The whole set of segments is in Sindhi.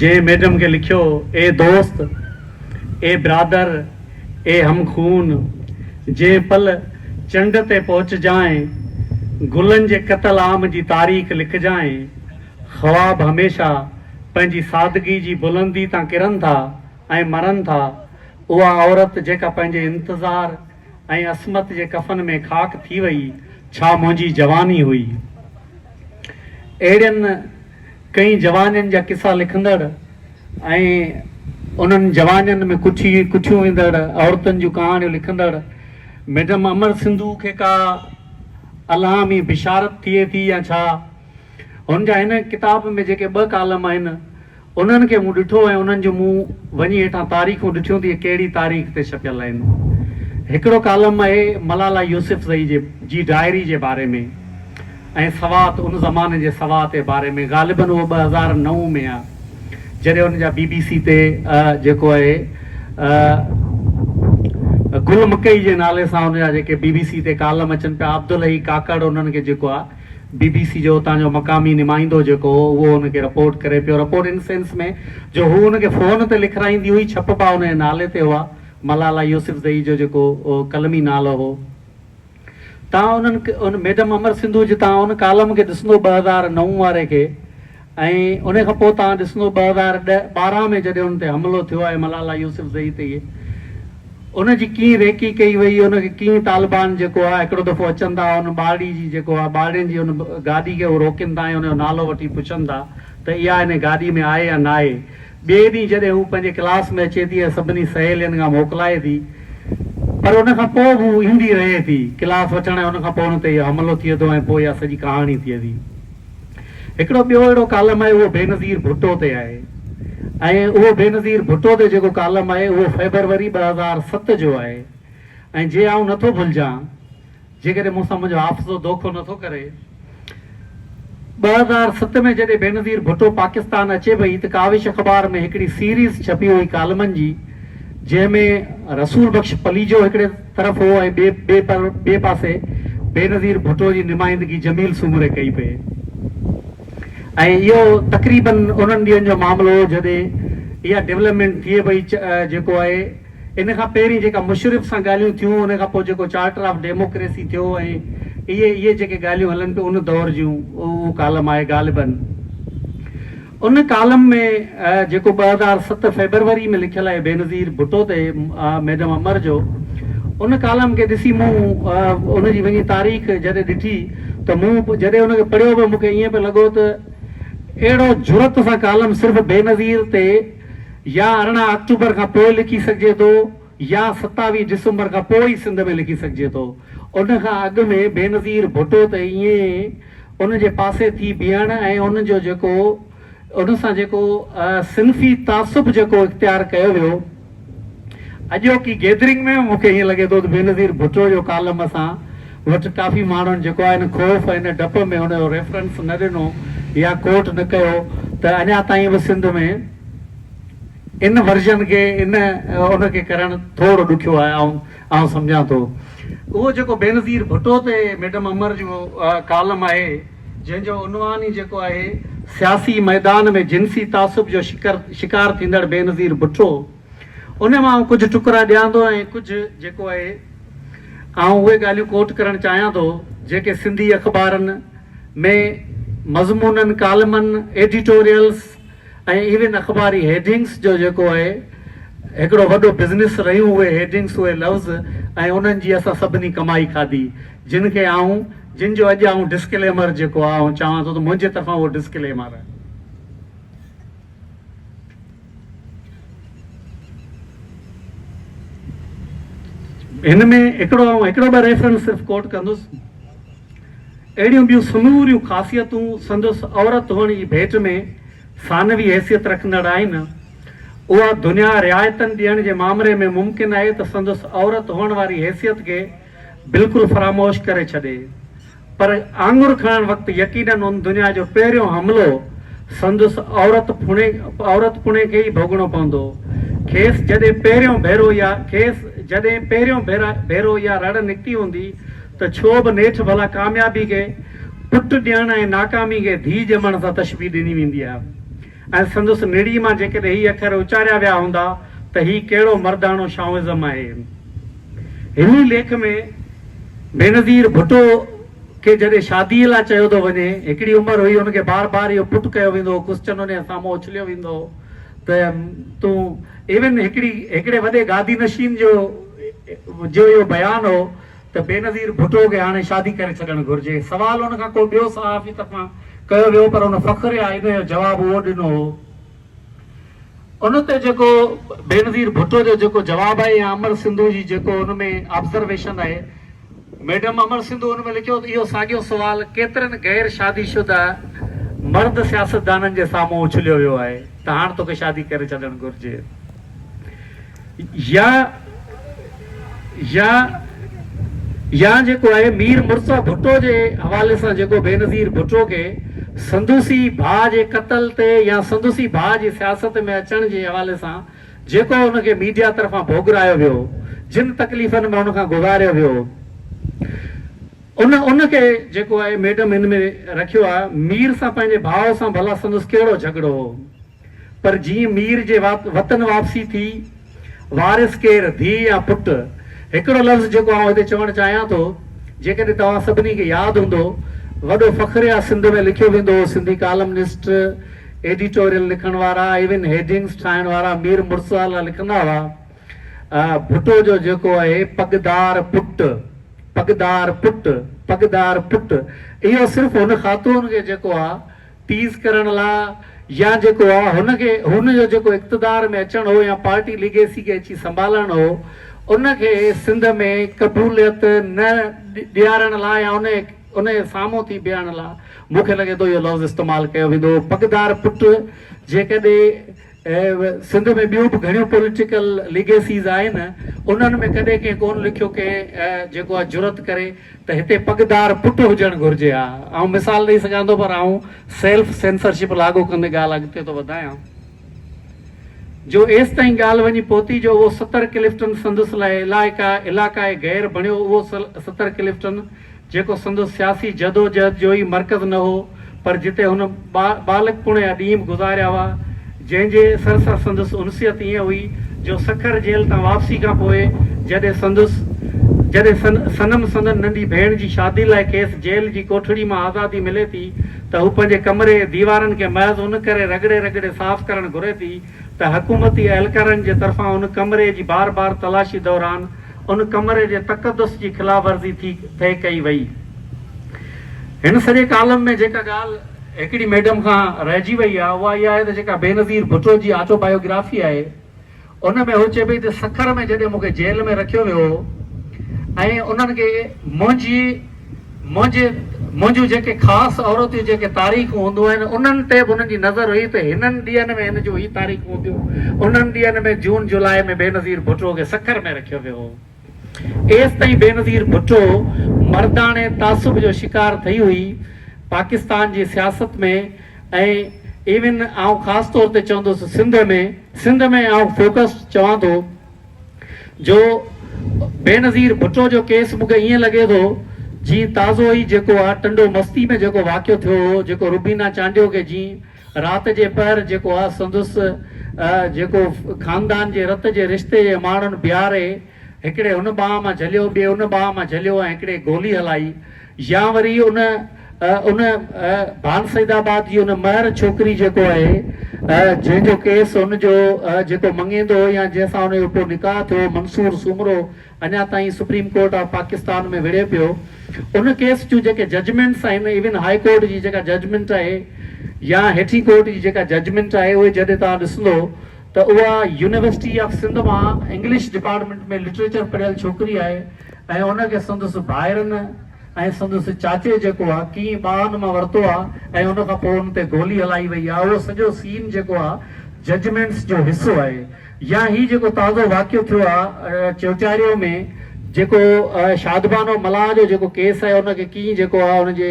جنهن ميڊم کي لکيو هو، اي دوست، اي برادر، اي هم خون، جنهن پل چنڊ تي پهچجانء، گلن جي قتل عام جي تاريخ لکجانء، خواب هميشه پنهنجي سادگي جي بلندي تان ڪرن ٿا ۽ مرن ٿا، اها عورت جيڪا پنهنجي انتظار، ۽ عصمت جي ڪفن ۾ خاڪ ٿي وئي، ڇا منهنجي جواني هئي؟ اهڙين ڪئين جوانين جا قصا لکندڙ ۽ انهن جوانين ۾ ڪٺي ڪٺيون ويندڙ عورتن جون ڪهاڻيون لکندڙ ميڊم امر سنڌو کي ڪا الهامي بشارت ٿئي ٿي يا ڇا؟ هن جا هن ڪتاب ۾ جيڪي ٻه ڪالم آهن، انهن کي مون ڏٺو ۽ انهن جون مون وڃي هيٺان تاريخون ڏٺيون ته اهي ڪهڙي تاريخ تي ڇپيل آهن. هڪڙو ڪالم اهي ملالا يوسفزئي جي جي ڊائري جي باري ۾ ۽ سوات ان زماني جي سوات جي باري ۾ غالباً اهو ٻه هزار نو ۾ آ جڏهن ان جا بي بي سي تي جيڪو اهي گل مڪئي جي نالي سان ان جا جيڪي بي بي سي تي ڪالم اچن پيا عبدالحئي ڪاڪڙ انهن کي جيڪو آ بي بي سي جو اتان جو مقامي نمائندو جيڪو هو اهو هن کي رپورٽ ڪري پيو، رپورٽ ان سينس ۾ جو هو هن کي فون تي لکرائيندي هئي، ڇپبا هن جي نالي تي هئا، ملالا يوسفزئي جو جيڪو قلمي نالو هو. تان انهن ميڊم امر سنڌو جتان ان ڪالم کي ڏسندو ٻه هزار نو واري کي. ۽ انهي کان پوء توهان ڏسندو ٻه هزار ڏهه ٻارهن ۾ جڏهن ان تي حملو ٿيو آهي ملالا يوسف زئي تي ان جي ڪيئن ريڪي ڪئي وئي ان کي ڪيئن طالبان جيڪو آهي هڪڙو دفعو اچن ٿا ان ٻارڙي جي جيڪو آهي ٻارڙين جي ان گاڏي کي هو روڪين ٿا ۽ ان جو نالو وٺي پڇن ٿا ته اها انهي گاڏي ۾ آهي يا ناهي ٻئي ڏينهن جڏهن هو پنهنجي ڪلاس ۾ اچي ٿي ۽ سڀني سهيلين کان موڪلائي ٿي پر ان کان پوء به هو ايندي رهي ٿي ڪلاس وٺڻ ۽ ان کان پوء ان تي اهو حملو ٿئي ٿو ۽ پوء اها سڄي ڪهاڻي ٿئي ٿي. هڪڙو ٻيو اهڙو ڪالم آهي اهو بينظير ڀٽو تي آهي ۽ اهو بينظير ڀٽو تي جيڪو ڪالم آهي اهو فيبروري ٻه هزار ست جو آهي ۽ جي آئون نه ٿو ڀلجان جيڪڏهن مون سان منهنجو حافظو دوکو نه ٿو ڪري ٻه هزار ست ۾ جڏهن بينظير ڀٽو پاڪستان اچي پئي ته ڪاوش اخبار ۾ هڪڙي سيريز ڇپي هئي ڪالمن جي جنهن ۾ رسول بخش پليجو هڪڙي طرف هو ۽ ٻئي پر ٻئي پاسي بينظير ڀٽو جي نمائندگي جميل سومري ڪئي پئي ۽ اهو تقريباً انهن ڏينهن جو معاملو هو جڏهن اها ڊولپمينٽ ٿئي پئي جيڪو آهي ان کان پهرين جيڪا مشرف سان ڳالهيون ٿيون ان کان پوء جيڪو چارٽر آف ڊيموڪريسي ٿيو ۽ اهي اهي جيڪي ڳالهيون هلن پيون ان دور جون اهو ڪالم آهي غالباً ان ڪالم ۾ جيڪو ٻه هزار ست فيبروري ۾ لکيل آهي بينظير ڀٽو تي ميڊم امر جو ان ڪالم کي ڏسي مون ان جي وڃي تاريخ جڏهن ڏٺي ته مون جڏهن ان کي پڙهيو به مونکي ائين پئي لڳو ته اهڙو جرئت سان ڪالم صرف بينظير تي يا ارڙهن آڪٽوبر کان پوء لکي سگهجي ٿو. يا ستاوي ڊسمبر کان پوء ئي سنڌ ۾ لکي سگهجي ٿو. ان کان اڳ ۾ بينظير ڀٽو ته ائين ان جي پاسي ٿي بيهڻ ۽ ان جو جيڪو ان سان جيڪو صنفي تعصب جيڪو اختيار ڪيو ويو، اڄوڪي گيدرنگ ۾ به مون کي ائين لڳي ٿو ته بينظير ڀٽو جو ڪالم اسان وٽ ڪافي ماڻهن جيڪو آهي ان خوف ۽ ان ڊپ ۾ ان جو ريفرنس نه ڏنو يا ڪوٽ نه ڪيو ته اڃا تائين به سنڌ ۾ ان ورجن کي ان ان کي ڪرڻ ٿورڙو ڏکيو آهي آئون آئون سمجهان ٿو اهو جيڪو بينظير ڀٽو تي ميڊم امر جو ڪالم آهي جنهن جو عنوان ئي جيڪو آهي سياسي ميدان ۾ جنسي تعصب جو شڪر شڪار ٿيندڙ بينظير ڀٽو ان مان آئون ڪجهه ٽڪرا ڏيان ٿو ۽ ڪجهه جيڪو آهي آئون اهي ڳالهيون ڪوٽ ڪرڻ چاهيان ٿو جيڪي سنڌي اخبارن ۾ مضمونن ڪالمن ايڊيٽوريلس ۽ ايون اخباري هيڊنگس جو جيڪو اهي هڪڙو وڏو بزنس رهيون اهي هيڊنگس اهي لفظ ۽ انهن جي اسان سڀني ڪمائي کاڌي جن کي آئون جن جو اڄ آئون ڊسڪليمر جيڪو آهي آئون چاهان ٿو ته منهنجي طرفان اهو ڊسڪليمر هن ۾ هڪڙو آئون هڪڙو ٻه ريفرنس صرف ڪوٽ ڪندس. اهڙيون ٻيون سموريون خاصيتون سندس عورت هئڻ جي ڀيٽ ۾ ثانوي حيثيت رکندڙ آهن. اها دنيا رعايتن ڏيڻ جي مامري ۾ ممڪن آهي ته سندس عورت هئڻ واري حيثيت کي بلڪل فراموش ڪري ڇڏي. پر آڱر کڻڻ وقت يقينن ان دنيا جو پهريون حملو سندس عورت پڻي عورت پڻي کي ئي ڀوڳڻو پوندو. کيس جڏهن پهريون ڀيرو اها کيس جڏهن پهريون ڀيرو اها رڙ نڪتي هوندي ته ڇو به نيٺ ڀلا ڪاميابي کي پٽ ڏيڻ ۽ ناڪامي کي ڌيء ڄمڻ سان تشبيهه ڏني ويندي آهي ۽ سندس نڙي مان جيڪڏهن هي اکر اچاريا ويا هوندا ته هي ڪهڙو مرداڻو شائونزم آهي. هن ئي ليک ۾ بينظير ڀٽو کي جڏهن شاديء لاء چيو ٿو وڃي، هڪڙي عمر هئي هن کي بار بار اهو پٽ ڪيو ويندو هو، ڪسچن هن جي سامهون اڇليو ويندو هو ته تون ايون هڪڙي هڪڙي وڏي گادي نشين جو جو اهو بيان هو، ته بينظير ڀٽو کي هاڻي شادي ڪري ڇڏڻ گهرجي. سوال ان کان ڪو ٻيو صحافي طرفان ڪيو ويو پر ان فخر يا ان جو جواب اهو ڏنو هو. ان تي جيڪو بينظير ڀٽو جو جيڪو جواب آهي يا امر سنڌو جي جيڪو ان ۾ آبزرويشن آهي، ميڊم امر سنڌو ان ۾ لکيو ته اهو ساڳيو سوال ڪيترن غير شادي شده مرد سياستدانن جي سامهون اڇليو ويو آهي ته هاڻ توکي شادي ڪري ڇڏڻ گهرجي. يا يا يا جيڪو آهي مير مرزا ڀٽو جي حوالي سان جيڪو بينظير ڀٽو کي سندسي ڀاء جي قتل تي يا سندسي ڀاء جي سياست ۾ اچڻ جي حوالي سان جيڪو ان کي ميڊيا طرفان ڀوڳرايو ويو جن تڪليفن ۾ ان کان گذاريو ويو ان ان کي جيڪو آهي ميڊم ان ۾ رکيو آهي مير سان پنهنجي ڀاء سان ڀلا سندس ڪهڙو جهڳڙو هو پر جيئن مير جي وطن واپسي ٿي، وارث ڪير، ڌيء يا پٽ؟ هڪڙو لفظ جيڪو آئون هتي چوڻ چاهيان ٿو، جيڪڏهن توهان سڀني کي ياد هوندو، وڏو فخر يا سنڌ ۾ لکيو ويندو هو، سنڌي ڪالمنسٽ، ايڊيٽوريل لکڻ وارا، ايون هيڊنگز ٺاهڻ وارا مير مرتضيٰ لاء لکندا هئا، ڀٽو جو جيڪو اهي پڳدار پٽ، پڳدار پٽ، پڳدار پٽ، اهو صرف هن خاتون کي جيڪو آ، تيز ڪرڻ لا يا جيڪو آ هن کي هن جو جيڪو اقتدار ۾ اچڻ هو يا پارٽي ليگيسي کي اچي سنڀالڻ هو ان کي سنڌ ۾ قبوليت نه ڏيارڻ لا يا ان ان جي سامهون ٿي بيهڻ لا مون کي لڳي ٿو اهو لفظ استعمال ڪيو ويندو هو پڳدار پٽ جيڪڏهن اهي سنڌ ۾ ٻيون به گهڻيون پوليٽيڪل ليگيسيز آهن، انهن ۾ ڪڏهن ڪنهن ڪونه لکيو ڪي جيڪو اها جرئت ڪري ته هتي پڳدار پٽ هجڻ گهرجي ها. آئون مثال ڏئي سگهان ٿو پر آئون سيلف سينسرشپ لاڳو ڪندي ڳالهه اڳتي ٿو وڌايان جو ايستائين ڳالهه وڃي پهتي جو اهو ستر ڪلفٽن سندس لاء علائقه علاقائي غير بڻيو اهو ستر ڪلفٽن جيڪو سندس سياسي جدوجهد جو ئي مرڪز نه هو، پر جتي هن ٻا ٻالڪپڻ جا ڏينهن به گذاريا هئا، جنهن جي اثر سان سندس انسيت ائين هئي جو سکر جيل تان واپسي کان پوء جڏهن سندس جڏهن سن صنم سندن ننڍي ڀيڻ جي شادي لاء کيس جيل جي ڪوٺڙي مان آزادي ملي ٿي ته هو پنهنجي ڪمري جي ديوارن کي محض ان ڪري رڳڙي رڳڙي صاف ڪرڻ گهري ٿي ته حڪومتي اهلڪارن جي طرفان ان ڪمري جي بار بار تلاشي دوران ان ڪمري جي تقدس جي خلاف ورزي ٿي ٿي ڪئي وئي. هن سڄي ڪالم ۾ جيڪا ڳالهه هڪڙي ميڊم کان رهجي وئي آهي اها اها آهي ته جيڪا بينظير ڀٽو جي آٽو بايوگرافي آهي ان ۾ هوء چئي پئي ته سکر ۾ جڏهن مون کي جيل ۾ رکيو ويو هو ۽ انهن کي منهنجي منهنجي منهنجون جيڪي خاص عورتيون جيڪي تاريخون هونديون آهن انهن تي به انهن جي نظر هئي ته هنن ڏينهن ۾ هن جون هي تاريخون هونديون انهن ڏينهن ۾ جون جولاء ۾ بينظير ڀٽو کي سکر ۾ رکيو ويو هو ايستائين بينظير ڀٽو مرداڻي تعصب جو شڪار ٿئي هئي پاڪستان جي سياست ۾ ۽ ايون آئون خاص طور تي چوندس سنڌ ۾ سنڌ ۾ آئون فوڪس چوان ٿو. جو بينظير ڀٽو جو ڪيس مون کي ائين لڳي ٿو جيئن تازو ئي جيڪو آ ٽنڊو مستي ۾ جيڪو واقعو ٿيو هو جيڪو روبينا چانڊيو کي جيئن رات جي پهر جيڪو آ سندس جيڪو خاندان جي رت جي رشتي جي ماڻهن بيهاري هڪڙي هن ٻانهه مان جهليو ٻئي ان ٻانهه مان جهليو ۽ هڪڙي گولي هلائي يا وري ان ان ڀان سيد آباد جي ان مهر ڇوڪري جيڪو آهي جنهن جو ڪيس ان جو جيڪو مڱيندو هو يا جنهن سان ان جو پوء نڪاح ٿيو منصور سومرو اڃا تائين سپريم ڪورٽ آف پاڪستان ۾ وڙهي پيو ان ڪيس جون جيڪي ججمينٽس آهن ايون هاء ڪورٽ جي جيڪا ججمينٽ آهي يا هيٺين ڪورٽ جي جيڪا ججمينٽ آهي اهي جڏهن توهان ڏسندو ته اها يونيورسٽي آف سنڌ مان انگلش ڊپارٽمينٽ ۾ لٽريچر پڙهيل ڇوڪري آهي ۽ ان کي سندس ڀائرن ۽ سندس چاچي جيڪو آ ڪيئي ٻانهن مان ورتو آ ۽ ان کان پوء ان تي گولي هلائي وئي آ اهو سڄو سين جيڪو آ ججمينٽس جو حصو آهي يا هي جيڪو تازو واقعو ٿيو آ چوٽياريو ۾ جيڪو شادبانو ملاح جو جيڪو ڪيس آهي ان کي ڪيئي جيڪو آ ان جي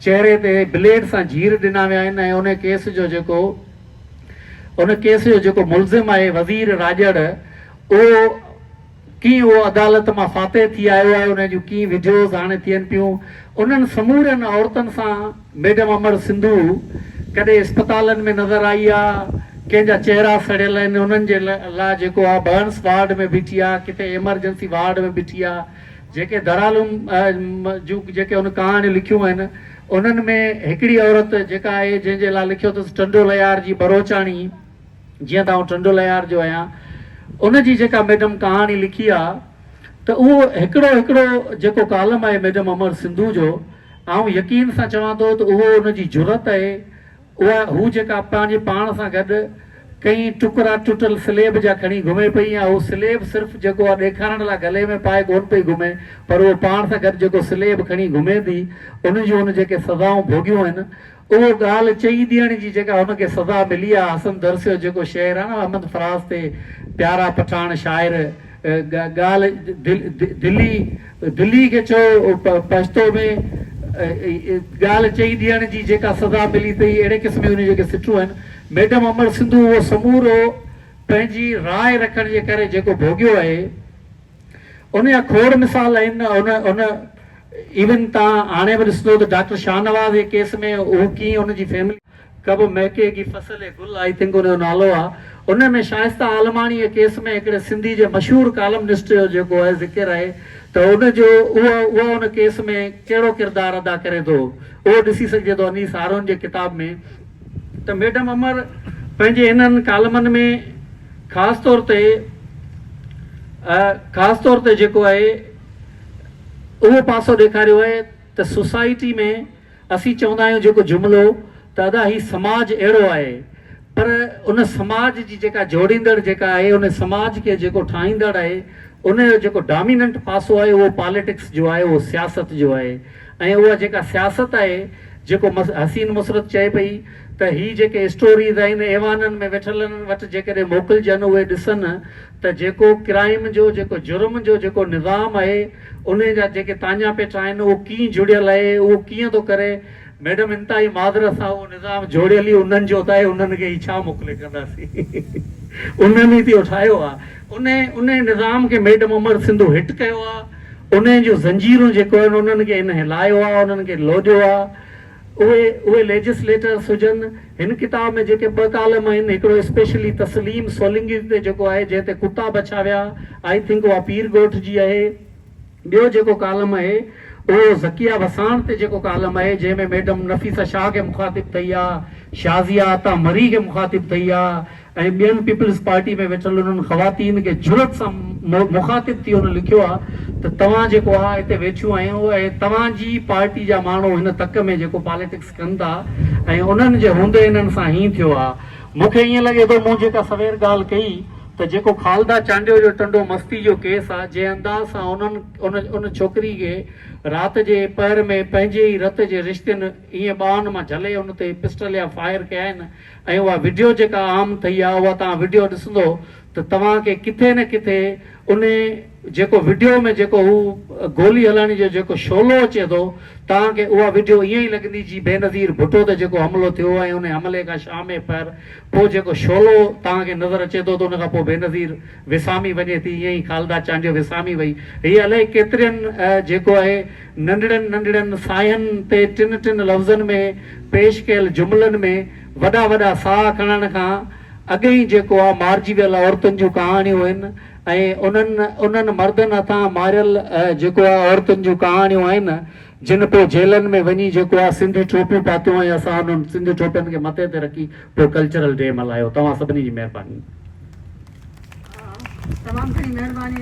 چهري تي بليڊ سان جير ڏنا ويا آهن ۽ ان ڪيس جو جيڪو ان ڪيس جو جيڪو ملزم آهي وزير راڄڙ اهو ڪيئن هو عدالت مان فاتح ٿي آيو آهي، انهيء جون ڪيئن وڊيوز هاڻي ٿين پيون. انهن سمورين عورتن سان ميڊم امڙ سنڌو ڪڏهن اسپتالن ۾ نظر آئي آ، ڪنهن جا چهرا سڙيل آهن، انهن جي لا جيڪو آ برنس وارڊ ۾ بيٺي آ، ڪٿي ايمرجنسي وارڊ ۾ بيٺي آ. جيڪي درالعلوم جون جيڪي هن ڪهاڻيون لکيون آهن، انهن ۾ هڪڙي عورت جيڪا آهي، جنهن جي لا لکيو اٿس ٽنڊو ليار جي بروچاڻي، جيئن ته آئون ٽنڊولهيار جو آهيان، ان جي جيڪا ميڊم ڪهاڻي لکي آ ته اهو هڪڙو هڪڙو جيڪو ڪالم آهي ميڊم امر سنڌو جو، آئون يقين سان چوان ٿو ته اهو ان جي جرئت آهي، اها هو جيڪا پنهنجي پاڻ سان گڏ ڪئي ٽڪرا ٽٽل سليب جا کڻي گهمي پئي ۽ اهو سليب صرف جيڪو آ ڏيکارڻ لاء گلي ۾ پائي ڪونه پئي گهمي پر اهو پاڻ سان گڏ جيڪو سليب کڻي گهمي ٿي ان جون ان جيڪي سزائون ڀوڳيون آهن اهو ڳالهه چئي ڏيڻ جي جيڪا هن کي سزا ملي آ، حسن درسيو جيڪو شعر آ نه احمد فراز تي پيارا پٺاڻ شاعر ڳالهه دلي دلي کي چئو پشتو ۾ ڳالهه چئي ڏيڻ جي جيڪا سزا ملي تئي اهڙي قسم جون جيڪي سٽون آهن ميڊم امڙ سنڌو اهو سمورو پنهنجي راء رکڻ جي ڪري جيڪو ڀوڳيو آهي ان جا کوڙ مثال آهن. ان ان ايون تان هاڻي به ڏسندو ته ڊاڪٽر شاهنواز جي ڪيس ۾ هو ڪيئن ان جي فيملي. ڪبه مهڪي گي فصل اي گل آئي تنگ ان جو نالو آ. ان ۾ شائسته عالماڻي جي ڪيس ۾ هڪڙي سنڌي جي مشهور ڪالمنسٽ جو جيڪو آهي ذڪر آهي ته ان جو اها اها ان ڪيس ۾ ڪهڙو ڪردار ادا ڪري ٿو اهو ڏسي سگهجي ٿو انيس هارون جي ڪتاب ۾. ته ميڊم امر پنهنجي انهن ڪالمن ۾ خاص طور تي خاص طور تي جيڪو آهي اهو پاسو ڏيکاريو آهي ته سوسائٽي ۾ اسين چوندا آهيون جيڪو جملو ته ادا هي سماج اهڙو آهي پر ان سماج جي جيڪا جوڙيندڙ جيڪا آهي ان سماج کي جيڪو ٺاهيندڙ آهي ان جو جيڪو ڊاميننٽ پاسو آهي اهو پاليٽڪس جو آهي اهو سياست جو آهي ۽ اها جيڪا سياست آهي جيڪو حسين مسرت چئي پئي ته هي جيڪي اسٽوريز آهن ايوانن ۾ ويٺلن وٽ جيڪڏهن موڪلجن اهي ڏسن ته جيڪو ڪرائيم جو جيڪو جرم جو جيڪو نظام آهي انهي جا جيڪي تاڃا پيٺا آهن اهو ڪين جڙيل آهي اهو ڪيئن ٿو ڪري ميڊم انتهائي معذرت سان اهو نظام جوڙيل ئي انهن جو ته آهي انهن کي هي ڇا موڪلي ڪنداسين انهن ئي ته اهو ٺاهيو آهي انهي انهي نظام کي ميڊم امڙ سنڌو هٽ ڪيو آهي. انهن جون زنجيرون جيڪو آهن انهن کي هن هلايو آهي انهن کي لوڏيو آهي اهي اهي ليجسليٽرس هجن هن ڪتاب ۾ جيڪي ٻه ڪالم آهن هڪڙو اسپيشلي تسليم سولنگي تي جيڪو آهي جنهن تي ڪتا بڇا ويا آئي ٿنڪ اها پير ڳوٺ جي آهي ٻيو جيڪو ڪالم آهي اهو ذڪيه وساڻ تي جيڪو ڪالم آهي جنهن ۾ ميڊم نفيسه شاهه کي مخاطب ٿئي آهي شازيه عطا مري کي مخاطب ٿئي آهي ۽ ٻين پيپلز پارٽي ۾ ويٺل انهن خواتين کي جرئت سان مخاطب ٿي هن لکيو آهي ته توهان جيڪو آ هتي ويٺيون آهيون اهي توهان جي پارٽي جا ماڻهو هن تڪ ۾ جيڪو پاليٽڪس ڪن ٿا ۽ انهن جي هوندي انهن سان هين ٿيو آ مون کي ائين لڳي ٿو مون جيڪا سوير ڳالهه ڪئي ته جيڪو خالده چانڊيو جو ٽنڊو مستي جو ڪيس آ جنهن انداز سان انهن ان ان ڇوڪري کي رات جي پهر ۾ پنهنجي ئي رت جي رشتين ائين ٻانهن مان جهلي ان تي پسٽل يا فائر ڪيائين ۽ اها وڊيو جيڪا عام ٿئي آ اها توهان وڊيو ڏسندو ته توهان کي ڪٿي نه ڪٿي ان جيڪو وڊيو ۾ جيڪو هو گولي هلائڻ جو جيڪو شعلو اچي ٿو توهان کي اها وڊيو ائين ئي لڳندي جي بينظير ڀٽو تي جيڪو حملو ٿيو ۽ ان حملي کان شام پهر پوء جيڪو شعلو توهان کي نظر اچي ٿو ته ان کان پوء بينظير وسامي وڃي ٿي ائين ئي خالده چانڊيو وسامي وئي هئي الائي ڪيترين جيڪو آهي ننڍڙن ننڍڙن ساين تي ٽن ٽن لفظن ۾ پيش ڪيل جملن ۾ وڏا وڏا ساهه کڻڻ کان اڳ ئي جيڪو آهي مارجي ويل عورتن جون ڪهاڻيون آهن ۽ انهن انهن مردن هٿان ماريل جيڪو آهي عورتن جون ڪهاڻيون آهن جن پوء جيلن ۾ وڃي جيڪو آ سنڌي ٽوپيون پاتيون ۽ اسان انهن سنڌي ٽوپين کي مٿي تي رکي پوء ڪلچرل ڊي ملهايو توهان سڀني جي مهرباني. تمام گهڻي مهرباني.